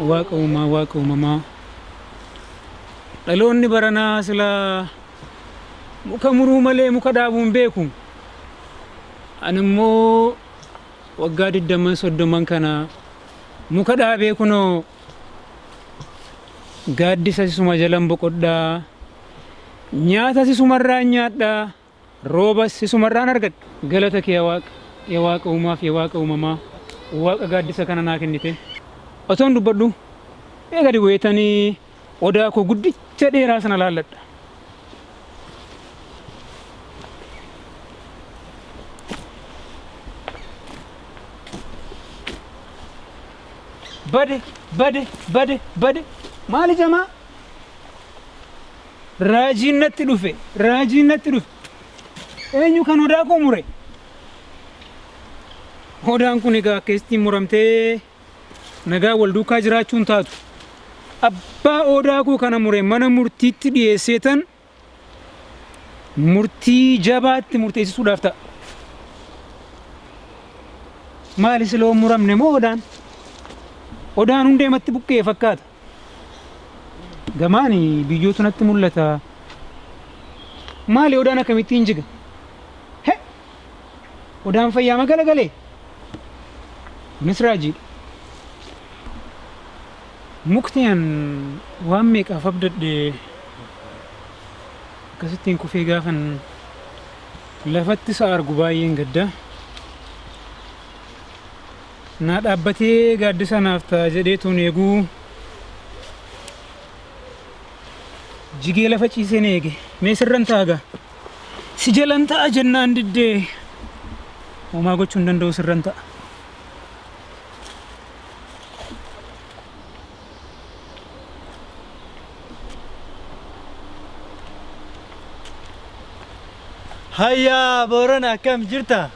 Waaqa uumaa waaqa uumamaa dhaloonni baranaa sila muka muruu malee muka dhaabuu hin beeku. Ani immoo waggaa digdamman soddomman kana muka dhaabee kunoo gaaddisa sisuma jalan boqodhaa nyaata sisumarraa nyaadhaa. Roobas isumarraan argadhe. Galata kee yaa Waaq, ya Waaqa Uumaaf ya Waaqa Uumamaa, Waaqa gaaddisa kana naa kennite. Otoon dubbadhuu mee gadi bu'eetanii odaa koo guddicha dheeraa sana laalladha. Bade! Bade! Bade! Bade! Maali jamaa? Raajiin natti dhufe, raajiin natti dhufe. Eenyu kan hodaa koo mure? Hodaan kun egaa akka ittiin muramtee nagaa wal duukaa jiraachuu hin taatu. Abbaa odaa koo kana mure mana murtiitti dhiyeessee tan murtii jabaatti murteessisuudhaaf ta'a. Maali siloo muramne moo odaan? Odaan hundeematti buqqee fakkaata. Gamaan biyyootu natti mul'ata. Maali odaan akkamittiin jiga? He! Odaan fayyaa magala galee? Kunis raajiidha. Mukti an waan meeqaaf abdadhe akkasittiin kufee gaafan lafatti isa argu baay'een gadda. Naa dhaabbatee gaaddisa naaf ta'a jedhee tuun eeguu jigee lafa ciiseen eege mee sirran taaga si jalan ta'a jennaan diddee homaa gochuu hin danda'u sirran ta'a. Hayyaa Boorana akkam jirta?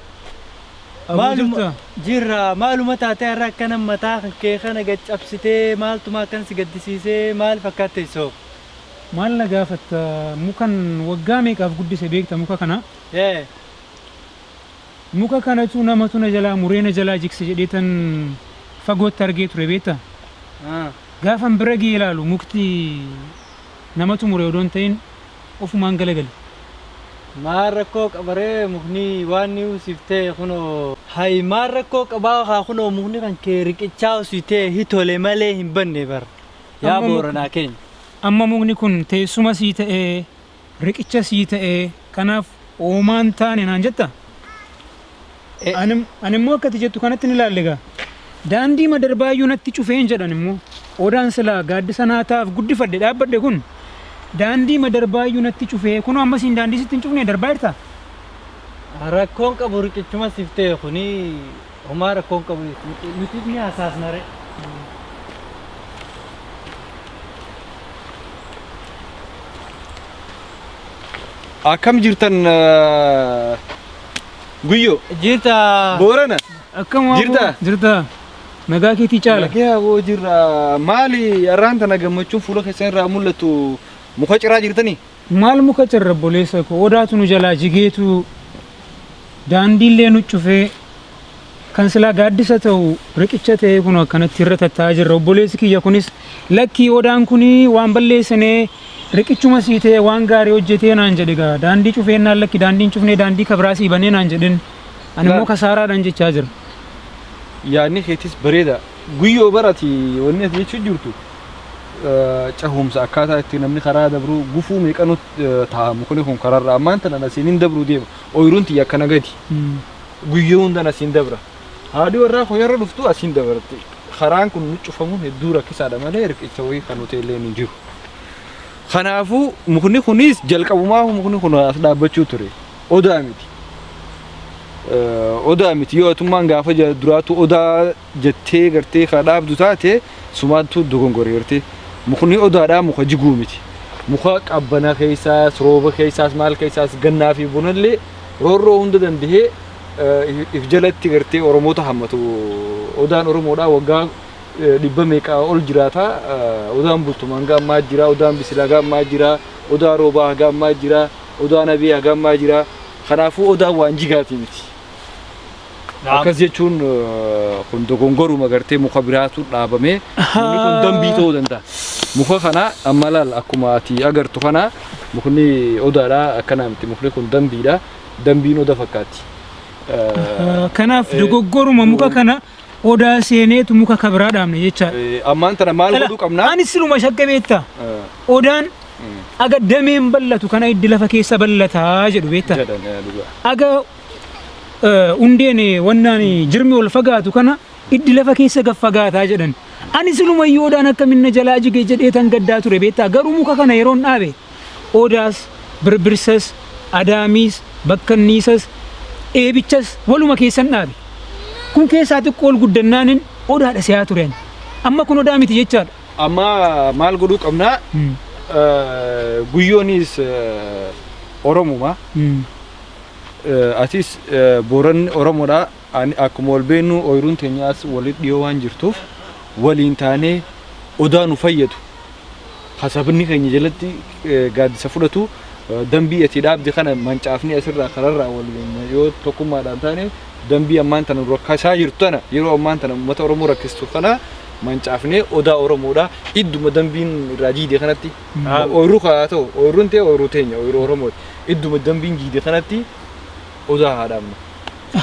Maaluma jirra maaluma taatee har'a akkana mataa kee kana gad cabsitee maaltuma akkan si gaddisiisee maal fakkaat teessoo. Maal na gaafatta mukan waggaa meeqaaf guddise beekta muka kana. Ee. Muka kanatu namatu na jalaa muree na jalaa jigse jedheetan fagootti argee ture beekta. Haa. Gaafan bira ga'ee ilaalu mukti. Namatu mure odoo hin ta'in ofumaan galagali. Maal rakkoo qaba ree mukni waan ni usiftee kunoo. Hay maal rakkoo qabaa kaa kunoo mukni kan kee riqichaa usitee hi tole malee hin banne bar yaa Amma muk booranaa keenya. Amma mukni kun teessuma sii ta'ee riqicha sii ta'ee kanaaf Oomaa hin taane naan jetta? E. Ani, ani immoo akka ati jettu kanatti ni ilaalle gaa. Daandii madarbaayyuu natti cufeen jedhan immoo. Odaan silaa gaaddisa naa taaf guddifadhe dhaabbadhe kun daandii madarbaayyuu natti cufee kunoo amma siin daandii sitti hin cufne darbaa jirta? Rakkoon qabu riqichuma siif ta'e kuni Homaa rakkoo hin qabu jechuudha. Nuti ni hasaasna ree. Akkam jirtan eh, guyyoo Jirta. boorana Akkam waa Jirta? boo- Jirta. Nagaa keetii caala. Nagaa boo jirra maali arraanta na gammachuun fuula keessan irraa mul'atu muka ciraa jirtanii? Maal muka cirra obboleessa koo odaatu nu jalaa jigeetu daandiillee nu cufee kan silaa gaaddisa ta'u riqicha ta'ee kun akkanatti irra tattaa'aa jirra obboleessi kiyya kunis lakkii odaan kun waan balleessinee riqichuma sii ta'e waan gaarii hojjetee naan jedhe gaa daandii cufeennaan lakki daandiin cufnee daandii kabraa sii banee naan jedhin ani immoo Laal. kasaaraadhaan jechaa jira. yaadni keetis bareeda guyyoo barati wanni ati jechuu jirtu cehumsa akkaataa itti namni karaa dabruu gufuu meeqanu ta'a mukni kun kararra ammaan tanan asiin hin dabruu deema ooyiruun tiyya akkana gadi guyyuu hundan asiin dabra haadhi warraa koo yeroo dhuftu asiin dabarte karaan kun cufamuun hedduu rakkisaadha malee riqicha wayii kan hoteelleen hin jiru. Kanaafuu mukni kunis jalqabumaa mukni kun as dhaabbachuu ture odaa miti. odaa miti yoo atummaan gaafa duraa tu odaa jettee gartee kaa dhaabdu taate sumaantuu dogongore gartee mukni odaadhaa muka jiguu miti muka qabbana keessaas rooba keessaas maal keessaas gannaa fi bonallee roorroo hunda dandahee if jalatti gartee oromoota hammatu odaan oromoodhaa waggaa dhibba meeqaa ol jiraata odaan bultuma hanga ammaa jira odaan bisila hanga ammaa jira odaa roobaa hanga ammaa jira odaa nabee hanga ammaa jira kanaafuu odaan waan jigaatii miti Naam. Akkas jechuun eh, kun dogongoruma gartee muka biraatu dhaabamee mukni kun dambii ta'uu danda'a. Muka kana amma laal akkuma ati agartu kana mukni odaadha akkana miti mukni kun dambiidha. Dambiin oda fakkaatti. Eh, Kanaaf Eh, dogoggoruma muka kana odaa seeneetu muka kabiraa dhaabne jechaadha. eh, Ammaan tana maal godhuu qabna? Ani siluma shakke beektaa? Eh, Odaan mm, aga dameen bal'atu kana iddi lafa keessa bal'ataa jedhu beektaa? jedhan, eh, dhugaa. Aga hundeen wannaan jirmi ol fagaatu kana iddi lafa keessa gaf fagaataa jedhan. Ani siluma iyyuu odaan akka minna jalaa jige jedhee tan gaddaa ture beektaa garuu muka kana yeroon dhaabe odaas birbirsas adaamiis bakkanniisas eebichas waluma keessan dhaabe. Kun keessaa xiqqoo ol guddannaanin odaadha siyaa turen. Amma kun odaa miti jechaadha. Amma maal godhuu qabnaa? Guyyoonis Oromuma. atis Booranni Oromoodha. Akkuma wal beeknu ooyiruun teenyaas walitti dhiyoo waan jirtuuf waliin taanee odaa nu fayyadu. Hasabni keenya jalatti gaaddisa fudhatu dambii ati dhaabde kana mancaafni asirraa kanarraa waliin yoo tokkummaadhaan taane dambii ammaan tana rakkasaa jirtu tana yeroo ammaan tana uummata Oromoo rakkistu kana mancaafnee odaa Oromoodha. Idduma dambiin irraa diide kanatti Dhaanu. Ooyruu kaa haa ta'u ooyruun tee ooyruu teenya ooyruu Oromooti. Idduma dambiin jiide kanatti odaa haa dhaabnu.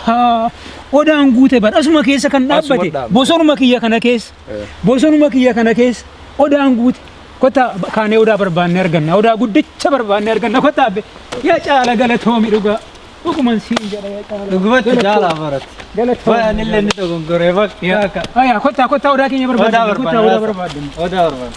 Haa, odaan guute bar asuma keessa kan Asuma dhaabbate dhaabna. bosonuma kiyya kana keessa Eh. bosonuma kiyya kana keessa odaan guute kottaa ba- kaanee odaa barbaannee arganna odaa guddicha barbaannee arganna kottaa abbe yaa caala galatoomi dhugaa dhuguman siin jedha yaa caala Dhugumatti jaalaa baratti. galatoomi Baay'een illee ni dogongoree bakka akka. Aya, kottaa kottaa odaa keenya Odaa barbaaddanna kottaa odaa barbaanna. barbaaddanna Odaa barbaanna.